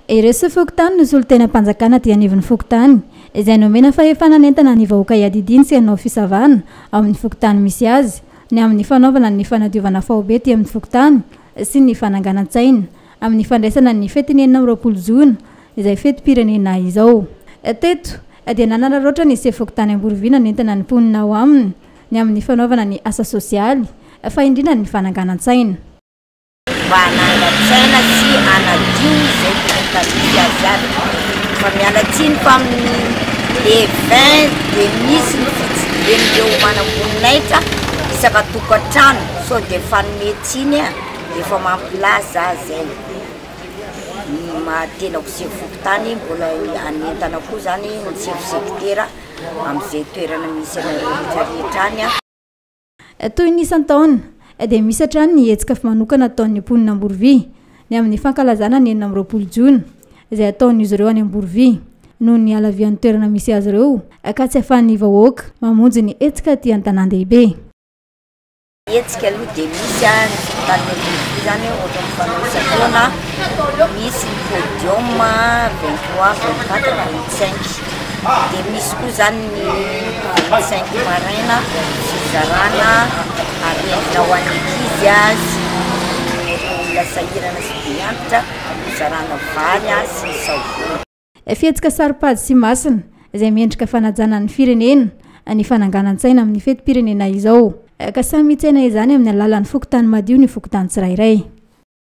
Ireo soa fokontany no solontenam-panjakana aty anivon'ny fokontany, izay nomena fahefana hanentana ny vahoaka hiadidiany sy hanao fisavana ao amin'ny fokontany misy azy, ny amin'ny fanaovana ny fanadiovana faobe aty amin'ny fokontany sy ny fananganan-tsaina amin'ny fandraisana ny fetin'ny enina amby roapolo jona izay fetim-pirenena izao. Teto dia nanararaotra ny sefo-fokontany Amborovihy nanentana ny mponina ao aminy ny amin'ny fanaovana ny asa sosialy fa indrindra ny fananganan-tsaina. mba hanangan-tsaina sy hanadio izay voka-tsarobidy azy avy. Fa miala tsiny fa amin'ny le 20 dia misy ny fitsidihan'ireo manam-boninahitra isaka tokantrano sao dia fanome tsiny an! efa mampilaza za zay ny maha tenako sefo fokontany mbola hanentana koa zany ny sefo sekitera amin'izay toerana misy anareo rehetra rehetra any an! Toy ny isan-taona, dia misy hatrany ny hetsika manokana ataon'ny mponina Amborovia, ny amin'ny fankalazana ny enina amby roapolo jona, izay ataon'izy ireo any Amborovia, noho ny halavian'ny toerana misy azy ireo ka tsy ahafahan'ny vahoaka mamonjy ny hetsika aty an-tanàn-dehibe. Ny hetsika aloha dia misy any Amborovia izany ohatra mifanao isan-taona, misy ny podium vingt trois, vingt quatre, vingt cinq. dia misy koa izany ny vingt cinq maraina sy fizarana harena ho an'ny ankizy sy ny olona sahirana sy be antitra fizarana vary sy ny savony. Fihetsika saropady sy masina izay mendrika fanajana ny firenena ny fananganan-tsaina amin'ny fetim-pirenena izao ka samy mitsena izany amin'ny alalan'ny fokontany madio ny fokontany tsirairay.